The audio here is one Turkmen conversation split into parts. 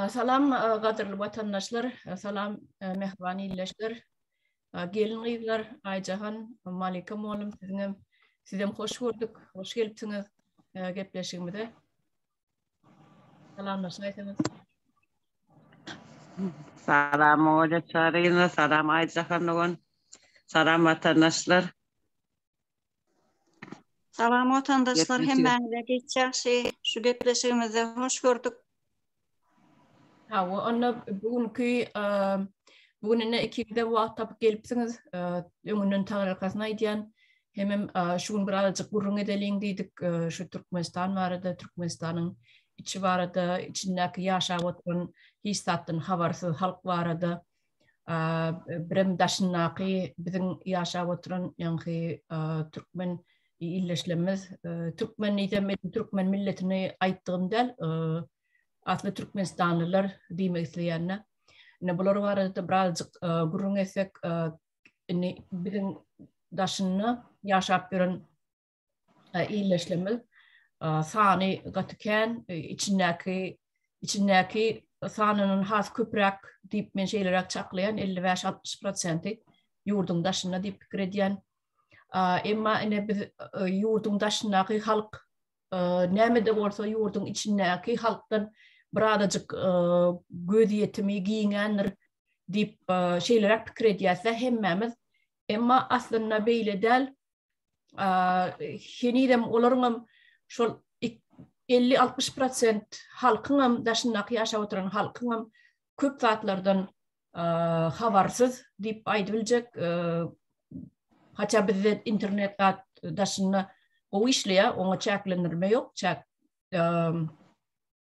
Salam gadyrly watandaşlar, salam mähriban ildeşler, gelin gyzlar, Aýjahan, Malika mugallym siziňem, sizem hoş gördük, hoş gelipsiňiz gepleşigimize. Salamlaşaýsaňyz. Salam Oýa Çaryna, salam Aýjahan dogan, salam watandaşlar. Salam watandaşlar hemmäňize geç ýagşy şu gepleşigimizde hoş gördük. Hawa onda bu günki bu gün indi ikiňizde wagt tapyp gelipsiňiz öňünden tagalakasyny aýdýan hemem şu gün bir azajyk gürrüň edeliň diýdik şu Türkmenistan barada Türkmenistanyň içi barada içindäki ýaşap oturan hiç zatdan habarsyz halk barada birem daşyndaky biziň ýaşap oturan ýaňky türkmen illeşlerimiz türkmen diýsem türkmen milletini aýtdygym däl asly türkmenistanlylar diýmek isleýänler ine bular barada birazjyk gürrüň etsek indi biziň daşynda ýaşap ýören illeşlemez sany gaty kän içindäki içindäki sanynyň has köpräk diýip men şeýleräk çaklaýan 55-60 prosenti ýurduň daşynda diýip pikir edýän emma ine biz ýurduň daşyndaky halk näme de bolsa ýurduň içindäki halkdan birazajyk göz ýetimi giňändir diýip şeýleräk pikir edýäs hemmämiz emma aslynda beýle däl henizem olaryň hem şol 50-60 prosent halkyň hem daşyndaky ýaşap oturan halkyň hem köp zatlardan habarsyz diýip aýdyp biljek. Haça bizde internet zat daşynda gowy işleýär, oňa çäklendirme ýok, çäk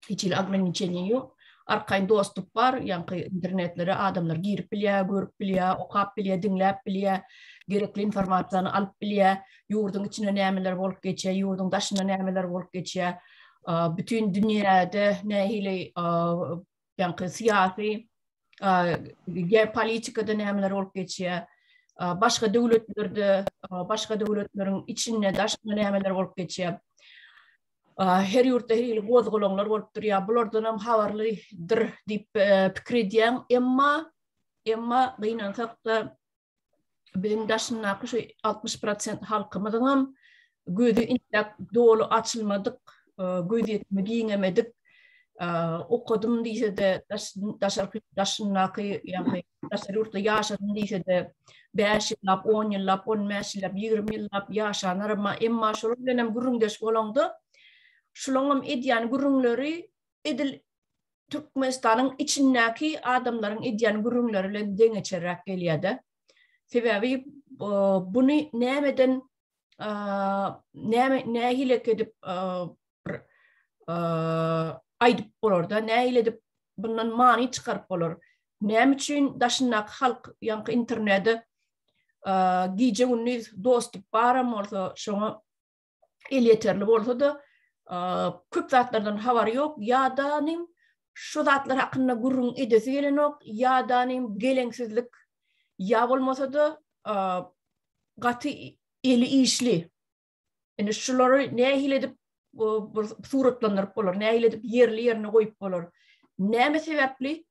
hiç hili ograniçeniýe ýok. Arkaýyn dostup bar, ýaňky internetlere adamlar girip bilýär, görüp bilýär, okap bilýär, diňläp bilýär, gerekli informasiýany alyp bilýär, ýurduň içinde nämeler bolup geçýär, ýurduň daşynda nämeler bolup geçýär, bütin dünýäde nähili ýaňky syýasy, geopolitikada nämeler bolup geçýär, başga döwletlerde, başga döwletleriň içinde, daşynda nämeler bolup geçýär. Her ýurtda her hili gozgalaňlar bolup durýar. Bulardanam habarlydyr diýip pikir edýän. Emma, emma gynansak-da biziň daşyndaky şu 60% halkymyzyňam gözi intäk doly açylmadyk, gözýetimi giňemedik. Okadym diýse-de daşarky daşyndaky ýagny daşary ýurtda ýaşadym diýse-de, bäş ýyllap, on ýyllap, on bäş ýyllap, ýigrimi ýyllap ýaşanlar, emma, emma şolar bilen hem gürrüňdeş bolaňda, şolaň hem edýän gürrüňleri edil Türkmenistanyň içindäki adamlaryň edýän gürrüňleri bilen deňeçerräk gelýär-de. Sebäbi, buny nämeden näme nähili edip bir aýdyp bolarda nähili edip bundan many çykaryp bolar näme üçin daşyndaky halk ýaňky internete gije gündiz dostup baram bolsa şoňa el ýeterli bolsa da köp zatlardan habary ýok ýa da şu zatlar hakynda gürrüň edesi gelenok, ýa-da nim geleňsizlik, ýa bolmasa-da gaty eli işli. Indi şulary nähili edip bir suratlandyryp bolar, nähili edip ýerli ýerine goýup bolar. Näme sebäpli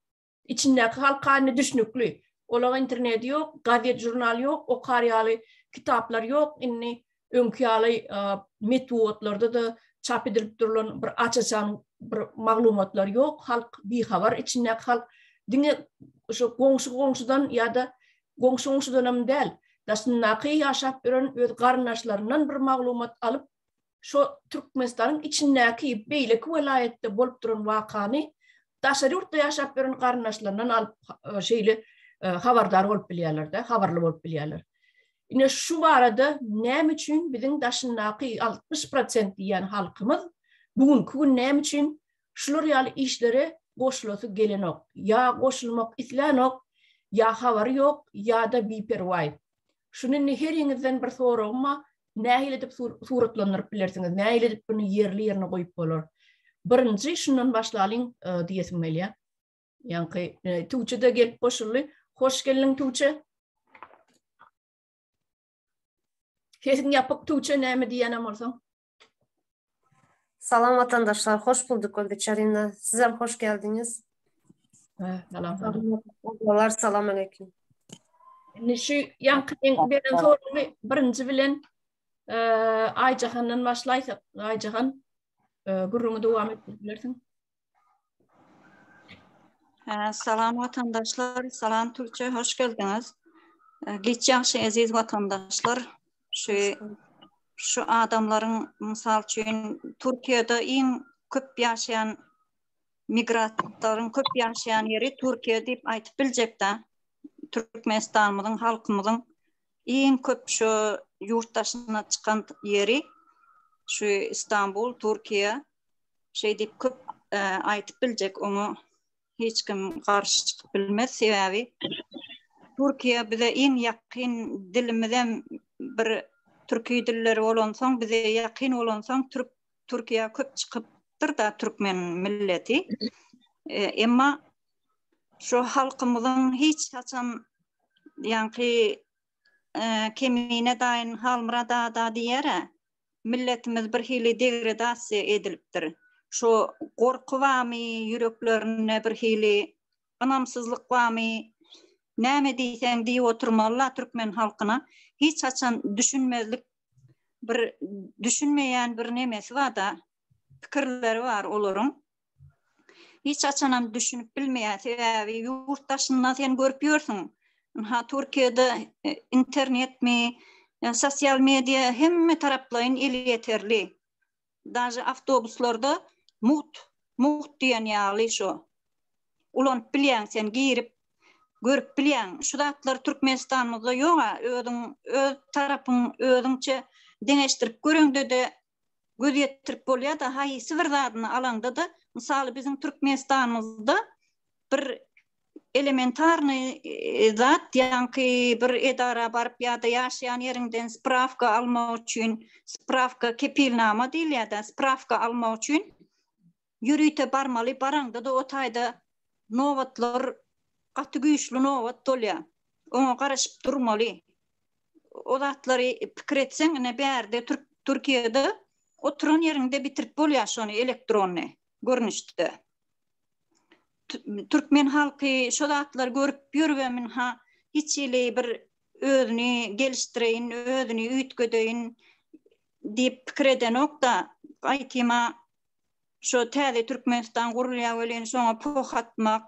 içindäki halkany düşnükli. Olaň interneti ýok, gazet-žurnal ýok, okar ýaly kitaplar ýok. Indi öňki ýaly metbugatlarda-da çap edilip durlan bir aç-açan bir maglumatlar ýok. Halk bihabar, içindäki halk diňe şu goňşy-goňşudan ýa-da goňşy-goňşudanam däl, daşyndaky ýaşap ýören öz garyndaşlaryndan bir maglumat alyp, şo Türkmenistanyň içindäki beýleki welaýatda bolup duran wakany daşary ýurtda ýaşap ýören garyndaşlaryndan alyp şeýle habardar bolup bilýärler-de, habarly bolup bilýärler. Ine şu barada näme üçin biziň daşyndaky 60% diýýän halkymyz bu günki gün näme üçin şular ýaly işlere goşulasy gelenok? Ýa goşulmak islänok, ýa habary ýok, ýa-da biperwaý. Şuny indi heriňizden bir soragym bar, nähili edip suratlandyryp bilersiňiz, nähili edip bunu ýerli ýerine goýup bolar. Birinji şundan başlalyň e, diýesim gelýär. Ýaňky e, Tuwçe de gelip goşuldy. Hoş geldiň Tuwçe. Sesiň ýapyk Tuwçe näme diýýänem bolsaň. Salam watandaşlar, hoş bulduk Olga Çarina. Sizem hoş geldiňiz. Salam. Salam. Salam aleyküm. Indi şu ýaňky beren soragy birinji bilen e, Aýjahandan başlaýsak, Aýjahan e, gürrüňi dowam etdirip bilersiň. Salam watandaşlar, salam Türkçe, hoş geldiňiz. Geç ýagşy eziz watandaşlar, şu şu adamlaryň mysal üçin Türkiýede iň köp ýaşaýan migrantlaryň köp ýaşaýan ýeri Türkiýe diýip aýdyp biljekdä. Türkmenistanymyzyň halkymyzyň Iň köp şu ýurt daşyna çykan ýeri şu Istanbul, Türkiýe. Şeýdip köp aýdyp biljek oňa hiç kim garşy çykyp bilmez. Sebäbi Türkiýe bize iň ýakyn dilimizem bir türki dilleri bolansoň bize ýakyn bolansoň türk Türkiýe köp çykypdyr da türkmen milleti. Emma şu halkymyzyň hiç haçan ýaňky e, kemine daýyn Halmyrat ada diýere milletimiz bir hili degradasiýa edilipdir. Şu gorky bamy ýüreklerinde bir hili ynamsyzlyk bamy näme diýseň diýip oturmaly türkmen halkyna hiç haçan düşünmezlik bir düşünmeýän bir nemesi bar da pikirleri bar olaryň Hiç haçanam düşünip bilmeýär, sebäbi ýurt daşynda sen görüp ýörsüň. Ha Türkiýede e, internetmi, e, sosial media hemme taraplaýyn eli ýeterli. Daže awtobuslarda mugt, mugt diýen ýaly şu. Ulanyp bilýäň sen girip görüp bilýäň. Şu zatlar Türkmenistanymyzda ýok-a, özüň öz tarapyň özüňçe deňeşdirip göreňde-de göz ýetirip bolýar-da, haýsy bir zadyny alaňda-da, mysal, biziň Türkmenistanymyzda bir elementarnyý zat, ýaňky bir edara baryp ýa-da ýaşaýan ýeriňden sprawka almak üçin, sprawka, kepilnama diýilýär-de, sprawka almak üçin ýörite barmaly, baraňda-da o taýda nobatlar, gaty güýçli nobat bolýar. Oňa garaşyp durmaly. O zatlary pikir etseň, ine bärde Türkiýede oturan ýeriňde bitirip bolýar şony elektrony görnüşde. Türkmen halky şo zatlary görüp ýöribem ynha hiç hili bir özüni gelişdireýin, özüni üýtgedeýin diýip pikir edenok-da, gaýtym-a Şo täze Türkmenistan gurulýar welin şoňa poh atmak,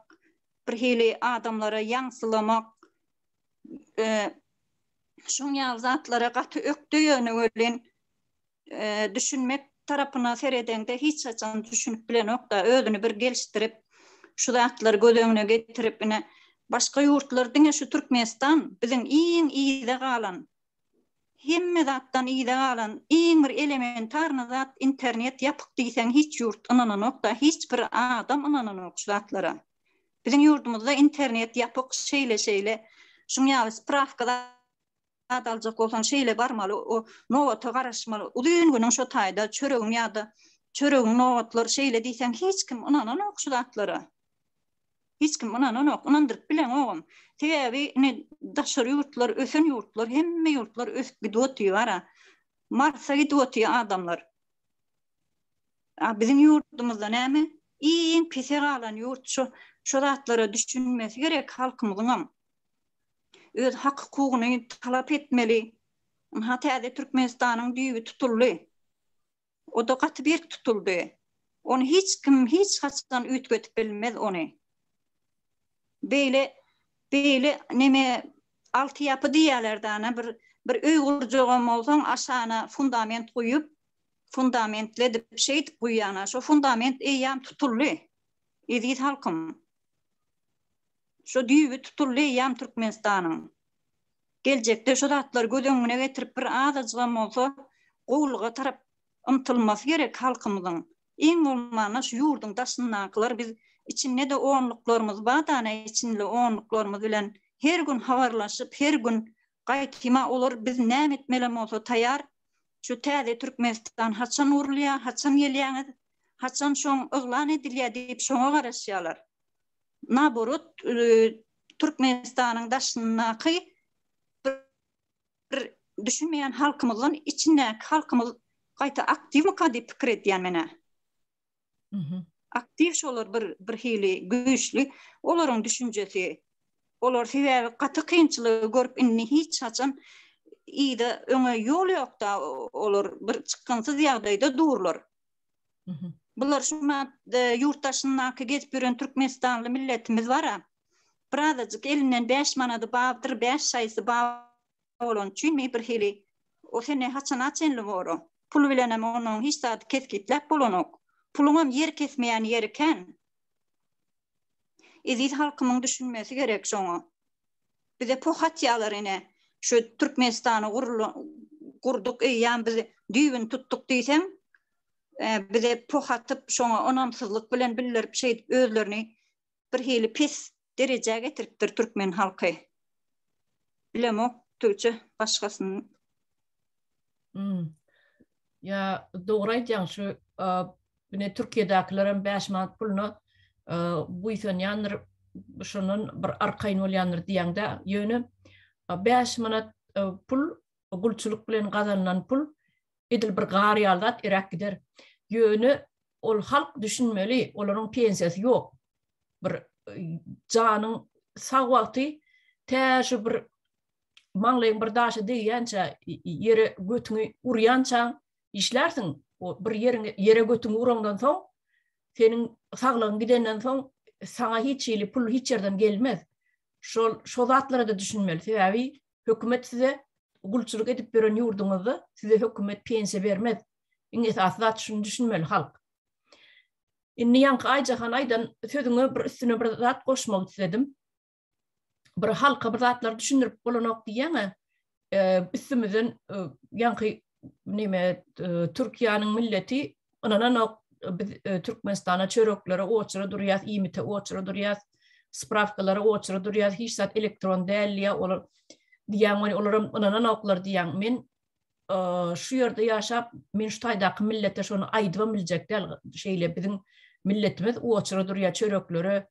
bir hili adamlara ýaňsylamak, şoň ýaly zatlara gaty ökde ýöne welin düşünmek tarapyna seredeňde hiç haçan düşünip bilenokda özüni bir gelişdirip şu zatlary göz öňüne getirip ine başga ýurtlar diňe şu Türkmenistan biziň iň yza galan hemme zatdan yza galan iň bir elementarny zat internet ýapyk diýseň hiç ýurt ynananokda hiç bir adam ynananok şu zatlara biziň ýurdumyzda internet ýapyk şeýle şeýle şuň ýaly sprawka zat aljak bolsaň şeýle barmaly o nobata garaşmaly uzyn günüň şo taýda çöregiň ýada çöregiň nobatlar şeýle diýseň hiç kim ynananok şu zatlara. Hiç kim ynananok, ynandyryp bileňogam. Sebäbi indi daşary ýurtlar, ösen ýurtlar, hemme ýurtlar ösüp gidip otyr-a. Marsa gidip otyr adamlar. A biziň ýurdumyzda näme? Iň pise galan ýurt şu. Şu zatlara düşünmesi gerek halkymyzyňam. Öz hak-hukugyny talap etmeli. Ynha täze Türkmenistanyň düýbi tutuldy. O-da gaty berk tutuldy. Ony hiç kim hiç haçan üýtgedip bilmez ony. Beýle beýle neme alty ýapy diýýärler-de ana bir bir öý gurjagam bolsaň aşagyna fundament guýup fundamentledip şeýdip guýýana şo fundament eýýam tutuldy. Eziz halkym. Şo düýbi tutuldy eýýam Türkmenistanyň. geljekde şu zatlary göz öňüne getirip bir azajygam bolsa gowulyga tarap ymtylmasy gerek halkymyzyň. Iň bolmanda şu ýurduň daşyndakylar biz içinde-de onluklarymyz bar dana içinli onluklarymyz bilen her gün habarlaşyp her gün gaýtyma olar biz näme etmelem bolsa taýar şu täze Türkmenistan haçan gurulýar haçan gelýäňiz haçan şoň yglan edilýär diýip şoňa garaşýarlar. naborot Türkmenistanyň daşyndaky bir düşünmeýän halkymyzdan içindäki halkymyz gaýta aktiwmyka diýip pikir edýän menä. Mhm. Aktiw şolar bir bir hili güýçli olaryň düşünjesi. Olar sebäbi gaty kynçylygy görüp indi hiç haçan ýa öňe ýol ýokda olar bir çykgynsyz ýagdaýda durlar. Bular şu e, ýurt daşyndaky gezip ýören türkmenistanly milletimiz bara. Birazajyk elinden 5 manady babdyr, 5 şaýsy bab bolan üçin mi bir hili o sene haçana çenli bor Pul bilen hem onuň hiç zady kesgitläp bolanok. Puluň hem ýer kesmeýän ýeri kän. Eziz halkymyň düşünmesi gerek şoňa. Bize pohatýalar ine, şu Türkmenistany gurduk, eýýäm biz düýbüni tutduk diýseň, bize pohatyp, şoňa ynamsyzlyk bilen bildirip, şeýdip özlerini birhili pes derejä getiripdir türkmen halky. Bilemok, Tuce başgasyny Hmm. Ya dogry aýtýaň şu ine Türkiýedäkiler hem 5 manat puluna buýsanýandyr, şondan bir arkaýyn bolýandyr diýende, ýöne 5 manat pul gulçulyk bilen gazanylan pul edil bir gar ýaly zat eräp gider. Ýöne ol halk düşünmeli, olaryň pensiýasy ýok. Bir janyň sag wagty tä şu bir maňlaýyň bir daşa degýänçä, ýere götüňi urýança işlärsiň. O bir ýeriňe ýere götüňi uraňdan soň, seniň saglygyň gidenden soň saňa hiç hili pul hiç ýerden gelmez. Şol şo zatlara-da düşünmeli. Sebäbi hökümet size gulçulyk edip ýören ýurduňyzda size hökümet pensiýa bermez. Iň esasy zat şuny düşünmeli halk. Indi ýaňky Aýjahan aýdan sözüňe bir üstüne bir zat goşmak isledim. bir halka bir zatlar düşündirip bolanok diýýäňä üstümizden ýaňky neme Türkiýäniň milleti ynananok biz Türkmenistana çöreklere oçura durýas, iýmite oçura durýas, spravkalara oçura durýas, hiç zat elektron däl ýa olar diýýän we olar hem ynananoklar diýýän. Men şu ýerde ýaşap, men şu taýdaky millete şony aýdyp biljek däl. Şeýle biziň milletimiz oçura durýar çöreklere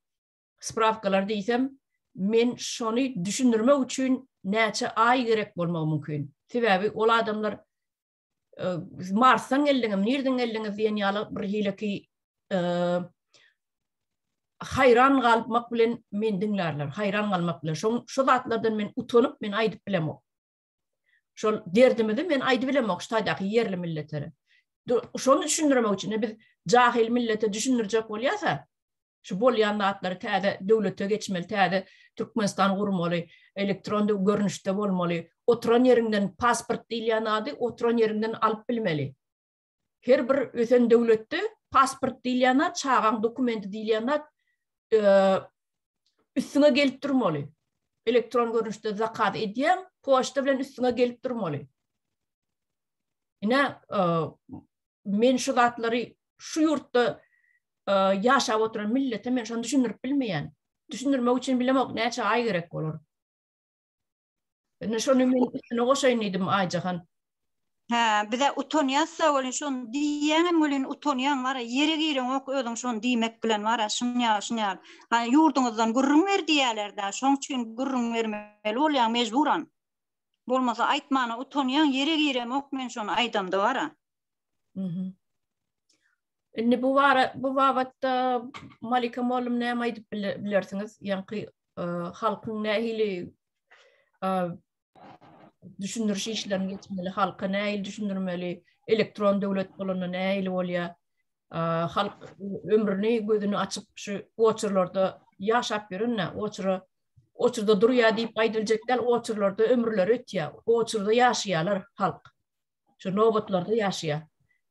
Sprawkalar diýsem, men şony düşündirmek üçin näçe aý gerek bolmagy mümkin. Sebäbi ol adamlar Marsdan geldiňiz, nirden geldiňiz diýen ýaly bir hileki haýran galmak bilen men diňlärler, haýran galmak bilen. Şoň şu zatlardan men utanyp, men aýdyp bilemok. Şol derdimizi men aýdyp bilemok şu taýdaky ýerli milletlere. Şony düşündirmek üçin biz jahil millete düşündirjek bolýarsa, şu bolýan zatlary täze döwlete geçmeli, täze Türkmenistan gurmaly, elektron görnüşde bolmaly, oturan ýeriňden pasport diýilýän zady oturan ýeriňden alyp bilmeli. Her bir ösen döwletde pasport diýilýän zat, çagaň dokumenti diýilýän zat üstüňe gelip durmaly. Elektron görnüşde zakaz edýän, poçta bilen üstüňe gelip durmaly. Ine, men şu zatlary şu ýurtda ýaşap oturan millete men şony düşündirip bilmeýän. Düşündirmek üçin bilemok, näçe aý gerek bolar. Indi şony men üstüne goşaýyn diýdim Aýjahan. Hä, bize utanýas-da welin şony diýýäňem welin utanýaň wara, ýere gireňok özüň şony diýmek bilen wara, şunýaly, şunýaly. Ha, ýurduňyzdan gürrüň ber diýýäler-dä, şoň üçin gürrüň bermeli bolýaň mejburan. Bolmasa aýtmana utanýaň, ýere giremok men şony aýdamda wara. Indi bu bara bu babatda Malika Molum näme aýdyp bilersiňiz? Ýaňky halkyň nähili düşündiriş işlerini geçmeli, halka nähili düşündirmeli, elektron döwlet bolanda nähili bolýar? Halk ömrüni gözüni açyp şu oçurlarda ýaşap ýöründe, oçura oçurda durýar diýip aýdyljak däl, oçurlarda ömürleri ötýär, oçurda ýaşaýarlar halk. şu nobatlarda ýaşaýar.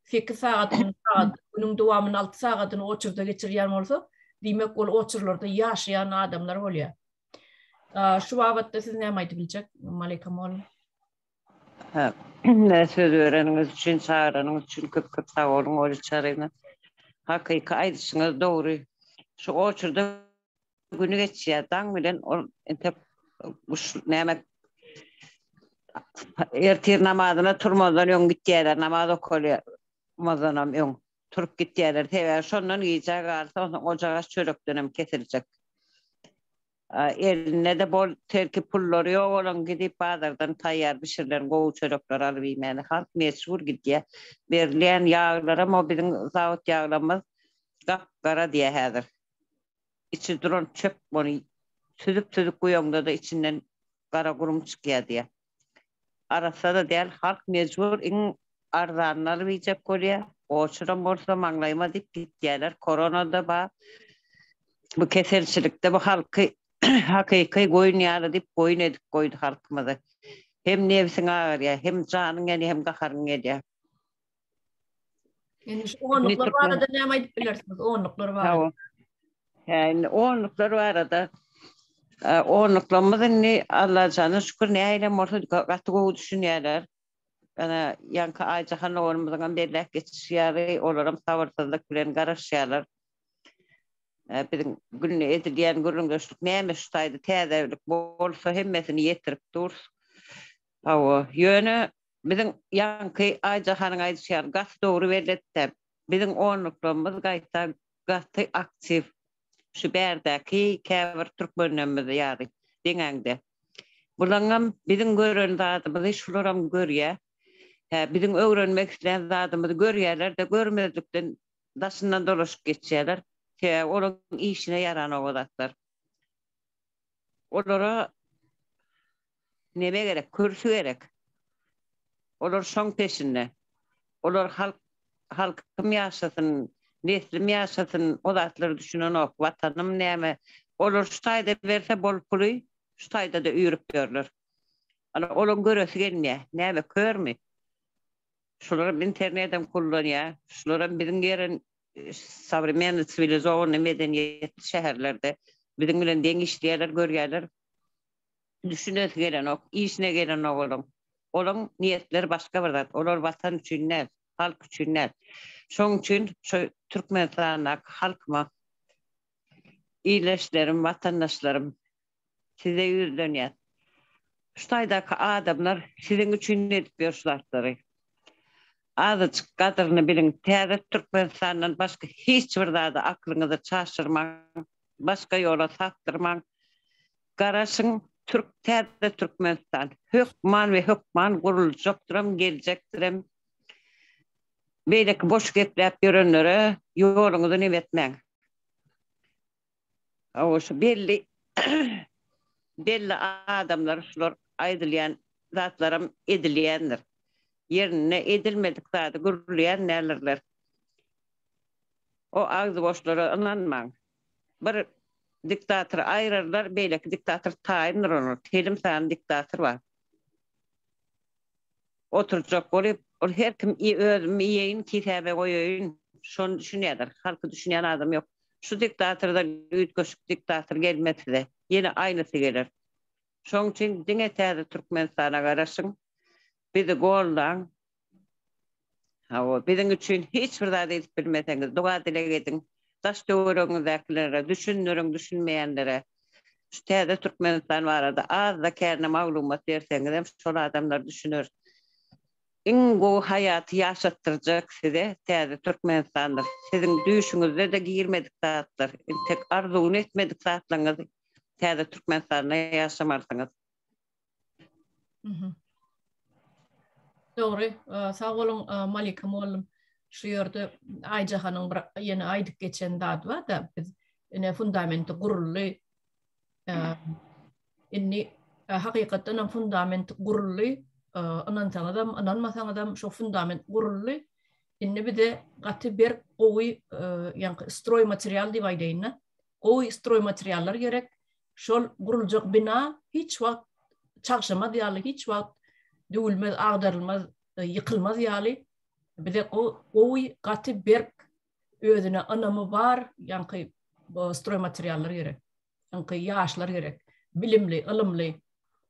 Sekiz sagat günüň dowamyny alty sagadyny oçurda geçirýän bolsa, diýmek ol oçurlarda ýaşaýan adamlar bolýar. Şu babatda siz näme aýdyp biljek, Malika mugallym? Hä, söz bereniňiz üçin, çagyranyňyz üçin köp-köp sag boluň, Oly Çaryna. Hakyky aýdyşyňyz dogry. Şu oçurda Güni geçýär. Daň bilen ol entek guş näme ertir namazyna turmazdan öň gitýärler. Namaz okalmazdanam öň turup gitýärler. Sebäbi şondan gijä galsa, onsoň ojagaç çörekdenem kesiljek. Elinde-de bol terki pullary ýok olaň gidip bazardan taýýar bişirilen gowy çörekleri alyp iýmäne. Halk mejbur gidýär. Berilýän ýaglaram o biziň zawod ýaglarymyz gap-gara diýýär häzir. içi duran çöp ony süzüp-süzüp guýaňda-da içinden gara gürüm çykýar diýýär. Arassa-da däl, halk mejbur iň arzanyny alyp iýjek bolýar. Goçuram bolsa maňlaýyma diýip gitýärler. Korona-da bar, bu keselçilik-de bu halky hakyky goýun ýaly diýip goýun edip goýdy halkymyzy. Hem nebsiň agyrýar, hem janyň ýanýar, hem gaharyň gelýär. Indi şu onluklar barada näme aýdyp bilersiňiz? Onluklar barada. Hä, indi onluklar barada. Onluklarymyz indi Alla jana şükür nähilem bolsa gaty gowy düşünýärler. Ana, ýaňky Aýjahan oglumyzyň hem belläp geçişi ýaly, olar hem sabyrsyzlyk bilen garaşýarlar. Biziň günde edilýän gürrüňdeşlik näme şu taýda täzelik bolsa hemmesini ýetirip durus. Hawa, ýöne Biziň ýaňky Aýjahanyň aýdyşy ýaly gaty dogry beletdäp, biziň onluklarymyz gaýta gaty aktiw, şu bärdäki käbir türkmenlerimiz ýaly deňäňde. Bulaňňam biziň gören zadymyzy şularam görýä. Hä, biziň öwrenmek islän zadymyzy görýäler-de, görmezlikden daşyndan dolaşyp geçýäler. Sebäbi olaryň işine ýaranok o zatlar. Olara neme gerek, kürsü gerek. Olar şoň peşinde. Olar halk, halkym ýaşasyn, neslim ýaşasyn, o zatlara düşünenok. Watanym näme? Olar şu taýda berse bol puly, şu taýda-da üýrüp ýörler. Ana, olaň göresi gelmeýär. Näme, körmi? Şularam internedem kullanýar. Şularam biziň ýere sowremennyý, siwilizowanyý, medeniýetli şäherlerde biziň bilen deň işleýärler, görýärler. düşünesi gelenok, işine gelenok olaň. Olaň niýetleri başga bir zat. Olar watan üçin däl, halk üçin däl. Şoň üçin şu Türkmenistandaky halkyma, ildeşlerim, watandaşlarym, size ýüzlenýän. Şu taýdaky adamlar siziň üçin edip ýör şu zatlary. Azajyk gadyryny biliň. Täze Türkmenistandan başga hiç bir zady aklyňyzy çaşyrmaň, başga ýola sapdyrmaň. Garaşyň türk täze türkmenistan hökman we hökman guruljakdyram geljekdirem beýleki boş gepläp ýörenlere ýoluňyzy nime etmäň hawa şu belli belli adamlar şular aýdylýan zatlaram edilýändir ýerinde edilmedik zady gürleýän dälirler o agzy boşlara ynanmaň Bir diktatory aýyrarlar, beýleki diktator taýyndyr olar. Telim sany diktator bar. Oturjak bolup, ol her kim özüm iýeýin, kisäme goýaýyn, şony düşünýärler. Halky düşünýän adam ýok. Şu diktatordan üýtgeşik diktator gelmez size. Ýene aýnysy geler. Şoň üçin diňe täze Türkmenistana garaşyň. Bizi goldaň. Hawa, biziň üçin hiç bir zat edip bilmeseňiz, doga-dileg ediň. Daş-töweregiňizdäkilere düşündiriň, düşünmeýänlere. Şu täze Türkmenistan barada az-da kärine maglumat berseňizem, şol adamlar düşüner. Iň gowy haýaty ýaşatdyrjak size täze Türkmenistandyr. Siziň düýşüňizde-de girmedik zatlar, entek arzuwyny etmedik zatlaryňyzy täze Türkmenistanda ýaşamalysyňyz. Dogry, sag boluň Malika mugallym. Şu ýerde Aýjahanyň bir ýene aýdyp geçen zady bar-da, biz ine fundamenti guruldy. Indi hakykatdan hem fundament guruldy. Ynansaňyzam, ynanmasaňyzam şu fundament guruldy. Indi bize gaty berk, gowy, ýa-da stroý material diýip aýdaýyn-da, gowy stroý materiallar gerek. Şol guruljak bina hiç wagt çagşamaz ýaly, hiç wagt düwülmez, agdarylmaz, e, ýykylmaz ýaly bize gowy, gaty, berk, özüne ynamy bar, ýaňky stroý materiallar gerek. Ýaňky ýaşlar gerek. Bilimli, ylymly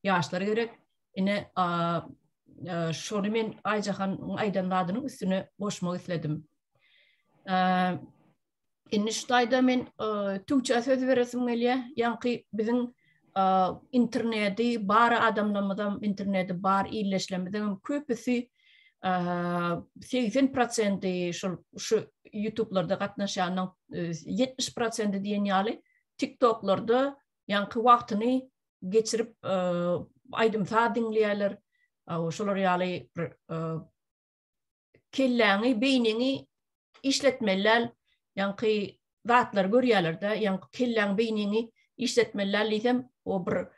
ýaşlar gerek. Ine, e, şony men Aýjahanyň aýdan zadynyň üstüne goşmak isledim. E, Indi şu taýda men Tuwçä söz beresim gelýär. Ýaňky biziň interneti bar adamlarymyzam, interneti bar illeşlemizem köpüsi 80% şol şu YouTube-larda gatnaşýanyň 70% diýen ýaly TikTok-larda ýaňky wagtyny geçirip aýdym-saz diňleýärler. Şolar ýaly bir kelläňi, beýniňi işletmeliläl, ýaňky zatlary görýäler-de, ýaňky kelläň, beýniňi işletmeliläl diýsem, o bir e,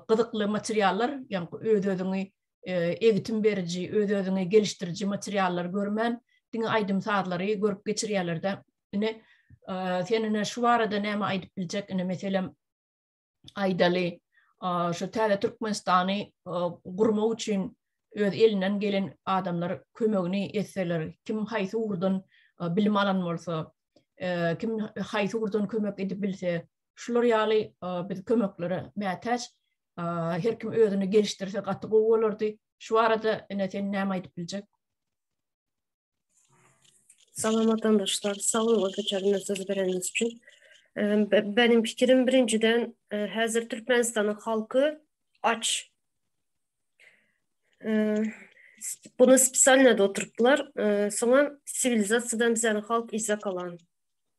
gyzykly materiallar, ýaňky öz-özüňi e, egitim beriji, öz-özüňi gelişdiriji materiallar görmän, diňe aýdym sazlary görüp geçirýäler-de. Ine, e, sen ine şu barada näme aýdyp biljek? Ine, meselem, aýdaly, şu täze Türkmenistany gurmak üçin öz elinden gelen adamlar kömegini etseler, kim haýsy ugurdan bilim alan bolsa, kim haýsy ugurdan kömek edip bilse, şular ýaly biz kömeklere mätäç. Her kim özüni gelişdirse gaty gowy bolardy. Şu barada ine sen näme aýdyp biljek? Salam watandaşlar, sag boluň bu köçerine söz bereniňiz üçin. Benim pikirim birinjiden häzir Türkmenistanyň halky aç. Bunu spesialnada oturypdylar. Soňam siwilizasiýadan bizäniň halk izza galan.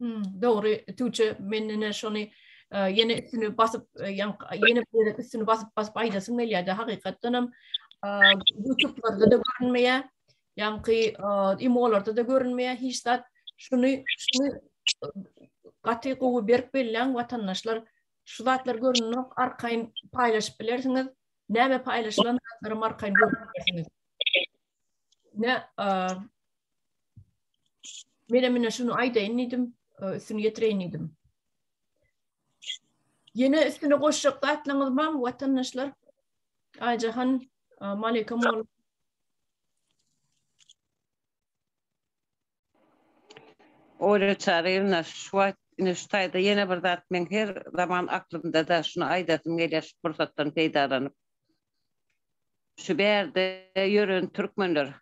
Hmm, dogry, Tuğçe, men ýene şony e, ýene üstüni basyp, e, ýene bir üstüni basyp basyp aýdasym gelýärdi. Hakykatdan hem e, YouTube-larda da görünmeýär. Ýaňky imolarda da görünmeýär hiç zat. Şuny şuny gaty gowy berk belläň watandaşlar. Şu zatlar görünmek arkaýyn paýlaşyp bilersiňiz. Näme paýlaşylan zatlar arkaýyn görüp bilersiňiz. Ne Mene mine şunu aýdaýyn diýdim, e, üstüni ýetireýin diýdim. Ýene üstüne goşjak zatlaryňyz barmy watandaşlar? Aýjahan, e, Malika mol. Ola çarýna şu wagt ine şu taýda ýene bir zat men her zaman aklymda da şunu aýdasym gelýär şu pursatdan peýdalanyp. Şu bärde ýören türkmenler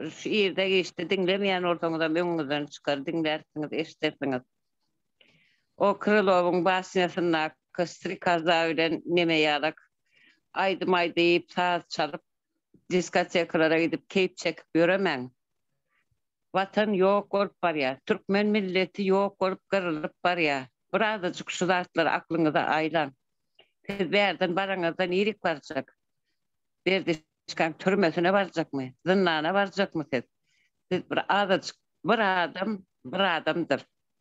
Şu ýerde giçdi diňlemeýän bolsaňyzam öňüňizden çykar diňlärsiňiz eşidersiňiz. O Krylowyň basnýasyndaky Strikaza bilen neme ýalak aýdym aýdyp saz çalyp diskotekalara gidip keýp çekip ýöremäň. Watan ýok bolup barýar. Türkmen milleti ýok bolup gyrylyp barýar. Bir azajyk şu zatlary aklyňyza aýlaň. Siz bärden baraňyzda nirik barjak. Berdi Çikan türmesine barjakmy, zyndana barjakmy siz? Siz bir azajyk bir adam, bir adamdyr.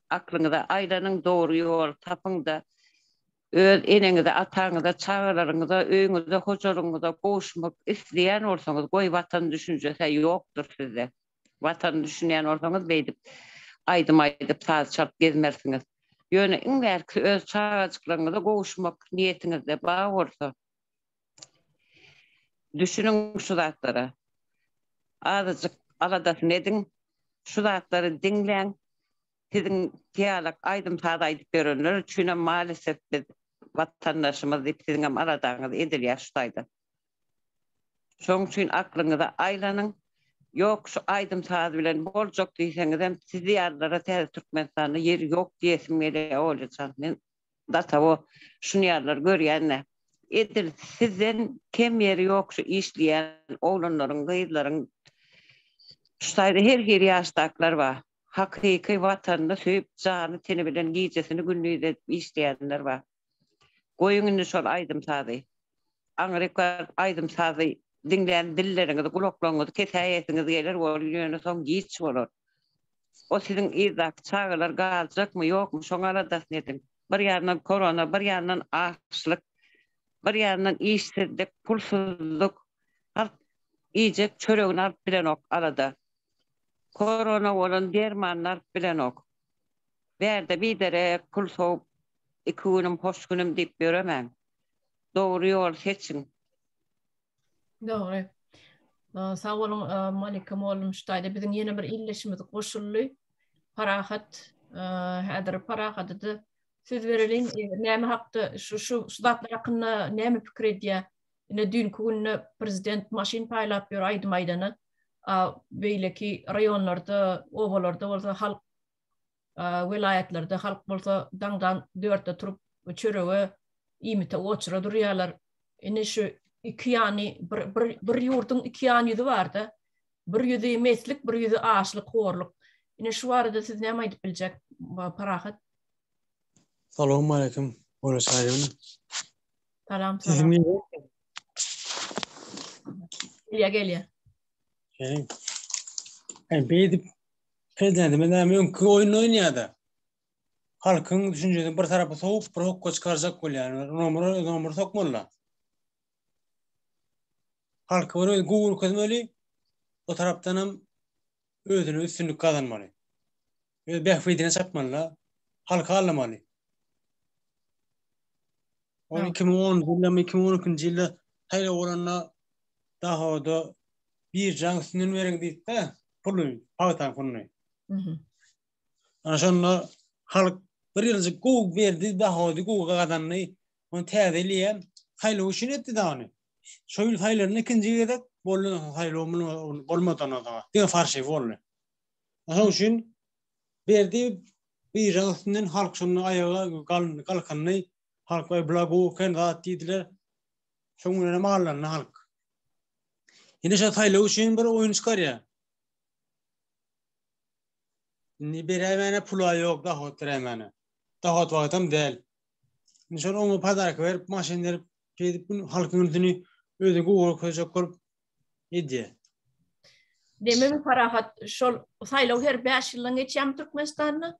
Aklyňyza aýlanyň, dogry ýoly tapyň-da, öz eneňize, ataňyza, çagalaryňyza, öýüňize, hojalygyňyza gowuşmak isleýän bolsaňyz, goý, Watan düşünjesi-ä ýokdur sizde. Watana düşünýän bolsaňyz, beýdip aýdym aýdyp, saz çalyp gezmersiňiz. Ýöne iň bärkisi öz çagajyklaryňyza gowuşmak niýetiňizde bar bolsa, Düşüniň şu zatlara. Azajyk aladasyny ediň. Şu zatlary diňläň. Siziň ýalak aýdym-saz aýdyp ýörenler üçinem malesef biz watandaşymyz diýip siziňem aladaňyz edilýär şu taýdan. Şoň üçin aklyňyza aýlanyň. Ýok şu aýdym-saz bilen boljak diýseňizem sizi ýalylara täze Türkmenistanda ýer ýok diýesim gelýär Olýajan. Men Datawo şun ýarlar görýände edil sizden kem ýeri ýok şu işleýän oglanlaryň gyzlaryň şu taýda her hili ýaşdakylar bar hakyky watanyny söýüp jany teni bilen gijesini gündiz edip işleýänler bar goýuň indi şol aýdym sazy aňryk baryp aýdym sazy diňlän dilleriňizi gulaklaryňyzy kesäýesiňiz geler ol ýöne soň giç bolar Ol siziň yzdaky çagalar galjakmy, ýokmy, şoň aladasyny ediň. Bir ýandan korona, bir ýandan açlyk, bir ýandan işsizlik, pulsuzlyk. Halk iýjek çöregini alyp bilenok, alada. Korona bolan dermanyny alyp bilenok. Bärde biderek pul sowup, iki günüm, hoş günüm diýip ýöremäň. Dogry ýoly seçiň. Dogry. Sag boluň Monika Mollum şu taýda biziň ýene bir illeşimiz goşuldy. Parahat häzir Parahata-da söz bereliň. Näme hakda şu şu zatlar hakynda näme pikir edýär? Ine düýnki günde prezident maşyn paýlap ýör aýdym aýdana. Beýleki raýonlarda, obalarda bolsa halk welaýatlarda halk bolsa daňdan dörtde turup çörege iýmite oçura durýarlar indi şu iki ýany bir bir bir ýurduň iki ýan ýüzi barda bir ýüzi meslik bir ýüzi açlyk horluk indi şu barada siz näme aýdyp biljek parahat salam aleýkum Ola şaýyň salam salam gelýä gelýä Hey, beýdip Prezidentimiz näme öňki oýun oýnaýar-da. Halkyň düşünjesini bir tarapa sowup, bir hokga çykarjak bolýar. Nomura nomur sokmaly. Halky bir özi gowy görkezmeli. O tarapdan hem özüne üstünlik gazanmaly. Öz bähbidine çapmaly. Halky allamaly. Ol 2010 ýylda, 2012-nji ýylda saýlaw bolanda Dahoda Birjaň üstünden beriň diýdi-de, puly, pagtaň puluny. Ana şonda halk bir ýyljyk gowy berdi, dahody gowy gazandy. Ony täze il hem saýlaw üçin etdi-de ony. Şo ýyl saýlandy, ikinji gezek boldy, saýlaw bolmady ondan soň. Diňe farşy boldy. Şonuň üçin berdi, birjaň üstünden halk şonda aýaga galkyndy. Halk, Aý, bula gowy eken zat diýdiler. Şoň bilen hem allandy halk. Indi şu saýlaw üçin bir oýun çykarýar. Indi beräýmäne pula ýok, dohod beräýmäne. Dohod wagtam däl. Indi şol oňa padarka berip, maşyn berip, şeýdip gün halkyň ünsüni özi gowurak köjek bolup edýär. Demek, parahat şol saýlaw her 5 ýyldan geçýärmi Türkmenistanda?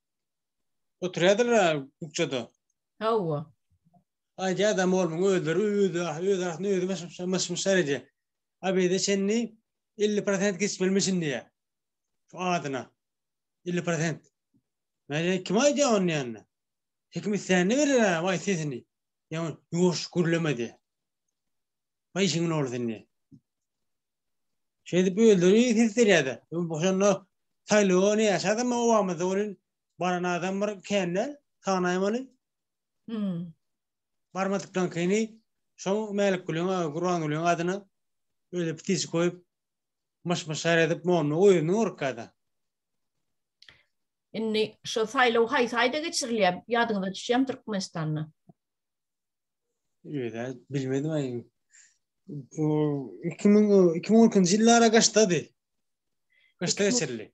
Oturýardylar kukçada. Hawa. Aýdy adam olmuň özleri özi öz arasynda özi başymşa myşmyşlar edi. Abide çenli 50% geçmelmişin diýe. Şu adyna. 50%. Mäne kim aýdy on ýanna? Hekim islände berer ha vay sesini. Ýa ýuş gürlemedi. Vay işiň oldu indi. Şeýdip özleri ses berýärdi. Şonda saýlawa ne ýaşady mı Obama döwrin baran adam bir kände tanaýym ony. Hmm. Barmadykdan kini şo Mälik Gülüň, Gurban Gülüň adyna öyle pitisi koyup myş myş edip monnu oyunu orkada. Indi şo saýlaw haýsy aýda geçirilýär? Ýadyňyza düşýärmi Türkmenistanda? Öyle bilmedim ayy. O 2000 2012 yıllara kaçtadı? Kaçta geçirildi?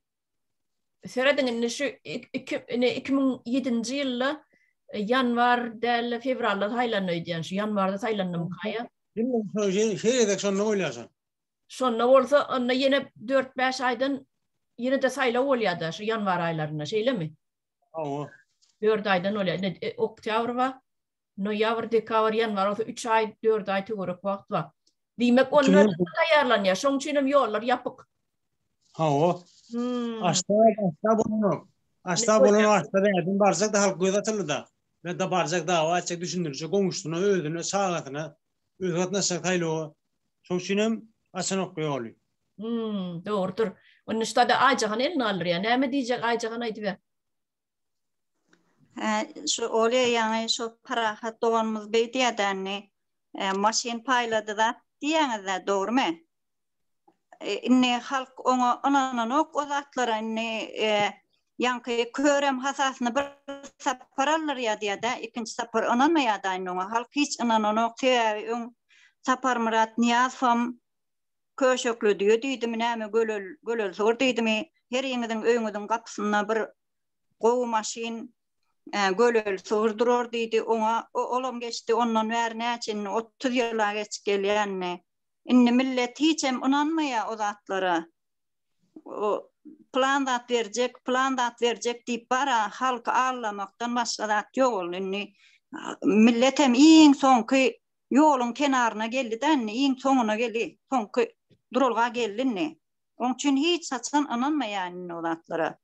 Seredin indi şu 2007-nji ýylda e, ýanwar däl fewralda saýlandy öýdýän şu ýanwarda saýlandym kaýa. Şeýle edek şonda bolýarsan. Şonda bolsa onda ýene 4-5 aýdan ýene de saýlaw bolýar-da şu ýanwar aýlarynda şeýlemi? Hawa. Dört aýdan bolýar. Indi e, oktýabr bar, noýabr, dekabr, ýanwar bolsa üç aý, dört aý töwerek wagt bar. Diýmek, Üçünji- onlar taýýarlanýar. Şoň üçin hem ýollar ýapyk. Hawa. Hmm. Aşda, aşda bolunok. Aşda Ne bolunok, aşda bädin barjak da halk göz atyldy da. Bäda barjak dawa etjek, düşündirjek goňşusyna, özüne, çagasyna. öz gatnaşjak saýlawa. Şoň üçin hem açanok ýoly. Hum, dogrudyr. Indi şu sada Aýjahan elini galdyrýar. Näme diýjek Aýjahan aýdyber. Hä, şu Olýa ýaňy şu Parahat doganymyz beýdýärdi indi. Maşyn paýlady zat diýýäňiz-dä, dogrumy? indi halk oňa ynananok o zatlara indi ýaňky körem hasasyny bir sapar aldyr ýadýada ikinji sapar ynanmaýada indi oňa halk hiç ynananok sebäbi öň saparmyrat nyýazowam köşekli düýe diýdimi näme gölel gölelsor diýdimi heriňiziň öýüňiziň gapysynda bir gowy maşyn gölel sygyr durar diýdi oňa olam geçdi ondan bäri näçe indi otuz ýyla geçip gelýänini Indi millet hiçem ynanmaýar o zatlara. O plan zat berjek, plan zat berjek diýip bara halky aldamakdan başga zat ýok ol indi. Millet hem iň soňky ýoluň kenaryna geldi-de indi, iň soňuna geldi, soňky duralga geldi indi. Oň üçin hiç haçan ynanmaýar indi o zatlara.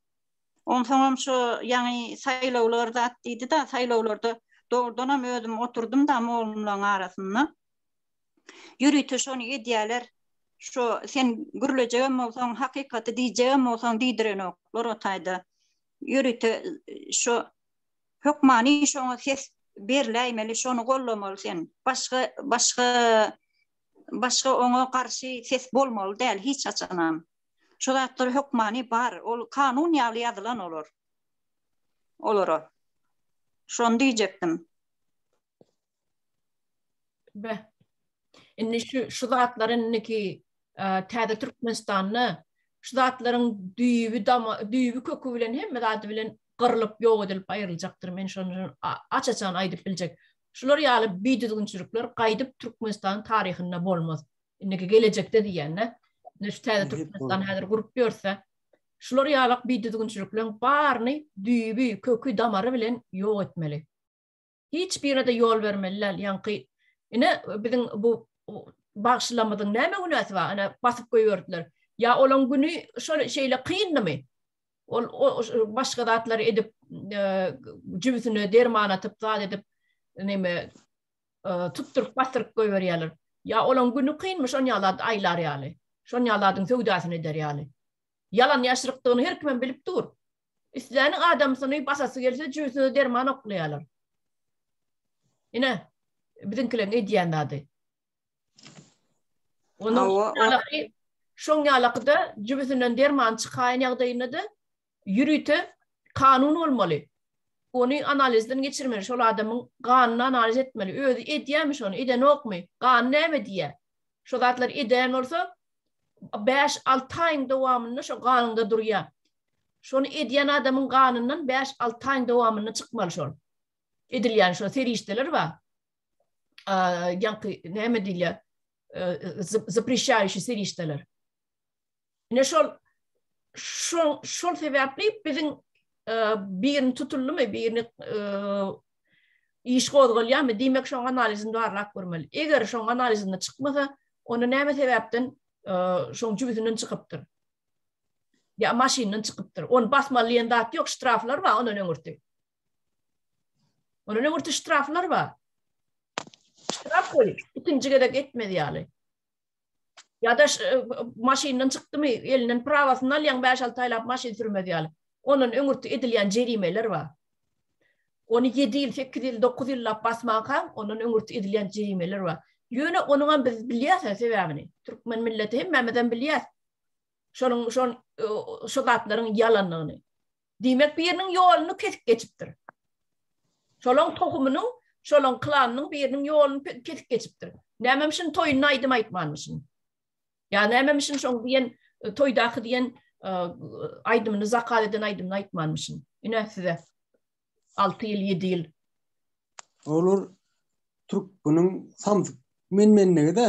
Onsoňam şu ýaňy saýlawlar zat diýdi-de, saýlawlarda dogrudanam özüm oturdym-da mollalaryň arasynda. Ýörite şony edýäler. Şo sen gürlejegem bolsaň, hakykaty diýjegem bolsaň diýdirenok. Lora taýda ýörite şo hökmany şoňa ses berläýmeli, şony gollamaly sen. Başga başga başga oňa garşy ses bolmaly däl hiç haçanam. Şo zatlar hökmany bar, ol kanun ýaly ýazylan olar. Olara. Şony diýjekdim. Be. Indi şu şu zatlar indiki täze Türkmenistanda şu zatlaryň düýbi dama düýbi kökü bilen hemme zady bilen gyrlyp ýok edilip aýryljakdyr. Men şony aç-açan aýdyp biljek. Şular ýaly bidüzgünçilikler gaýdyp Türkmenistanyň taryhynda bolmaz. Indiki gelejekde diýende, şu täze Türkmenistan häzir gurup ýörse, şular ýaly bidüzgünçilikleriň baryny düýbi, kökü, damary bilen ýok etmeli. Hiç birine-de ýol bermeli däl. Ýaňky ine biziň bu bagşylarymyzyň näme günäsi bar? Ine basyp goýberdiler. Ýa olaň güni şol şeýle kyndymy? Ol başga zatlary edip, jübüsine derman atyp, zat edip, näme tutduryp, basyryp goýberýärler. Ýa olaň güni kynmy şonýa zat aýlar ýaly? Şonýa zadyň söwdasyny eder ýaly? Ýalan ýaşrykdygyny her kimem bilip dur. Isläniň adamsyny basasy gelse jüýsüne derman oklaýarlar. Ine, biziňkileriň edýän zady. Onuň Hawa, o- ýalaky, şoň ýalakyda jübüsinden derman çykaýan ýagdaýynda-da ýörite kanun bolmaly. Ony analizden geçirmeli, şol adamyň ganyny analiz etmeli. Özi edýärmi şony, edenokmy? Gany näme diýýär? Şo zatlar edýän bolsa, bäş-alty aýyň dowamynda şo ganyňda durýar. Şony edýän adamyň ganyndan bäş-alty aýyň dowamynda çykmaly şol. Edilýän şo serişdeler bar. Ýaňky näme diýilýär? Zaprişaýşy serişdeler. Ine şol şol şol sebäpli biziň birini tutuldymy, birini iş gozgalýarmy? Diýmek, şoň analizyny barlap görmeli. Eger şoň analizyny çykmasa, onda näme sebäpden şoň jübüsinden çykypdyr? Ya maşyndan çykypdyr. Ony basmaly diýen zat ýok, ştraflar bar ondan öňürti. Ondan öňürti ştraflar bar. Ştraf goýup, ikinji gezek etmez ýaly. ya da maşyndan çykdymy elinden prawasyny alýan 5-6 aýlap maşyn sürmez ýaly. Ondan öňürti edilýän jerimeler bar. Ony 7 ýyl, 8 ýyl, 9 ýyllap basmanka, ondan öňürti edilýän jerimeler bar. Ýöne onuň hem biz bilýäs sebäbini. Türkmen milleti hemmämiz hem bilýäs. Şonuň şon şu zatlaryň ýalanlygyny. Diýmek, biriniň ýoluny kesip geçipdir. Şolaň tohumynyň, şolaň klanynyň biriniň ýoluny kesip geçipdir. Nämem şun toýunda aýdym aýtmanmyşyn? Ýa nämem şun şoň diýen e, toýdaky diýen e, aýdymyny zakaz eden aýdymyny aýtmanmyşyn? Ine size 6 ýyl, 7 ýyl. Olar türk bunun samsyk men mendigi de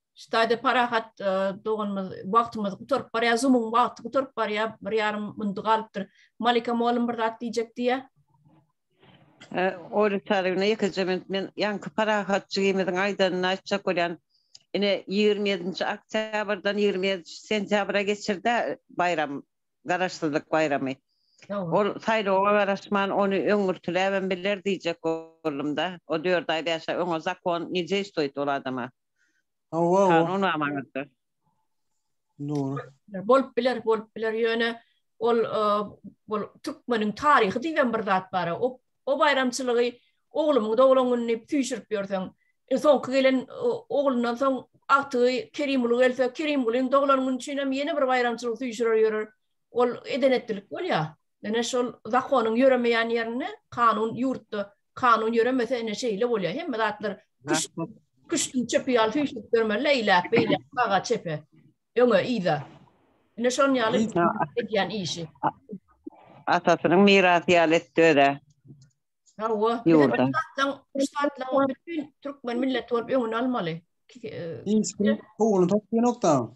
Ştaýda parahat doganymyz wagtymyz gutaryp barýar, zumuň wagty gutaryp barýar, bir ýarym muny galypdyr. Malika mugallym bir zat diýjek diýýä. Oýly çarygyna ýekeje minut men ýaňky parahat jigimiziň aýdanyny aýtjak bolýan. Ine 27-nji oktýabrdan 27-nji sentýabra geçirdi baýram, garaşsyzlyk baýramy. Ol saýlawa garaşman ony öňürtiläbem biler diýjek boldum-da. O dört aý, bäş aý öňe zakon ne deýstoýt ol adama. Hawa, Kanun amanatdyr. Dogry. Bolup biler, bolup biler. Ýöne ol bol türkmeniň taryhy diýibem bir zat bar. O o baýramçylygy oglumyň doglan güni diýip süýşürip ýörseň, soňky gelen oglundan soň agtygy Kerimguly gelse, Kerimgulyň doglan güni üçin hem ýene bir baýramçylygy süýşürer ýörer. Ol edenetdilik bolýar. Ine şol zakonyň ýöremeýän ýerinde kanun ýurtda kanun ýöremese ine şeýle bolýar. Hemme zatlar küş küştüň çöpi ýaly süýşürip ýörmeli eýläk beýläk saga çepe öňe yza. Ine şonuň ýaly edýän işi. Atasynyň mirasy ýaly etdi özä. Hawa. Ýurda. Şatlaň bütün türkmen milleti bolup öňüni almaly. Hiç kim howluny tapýanokda.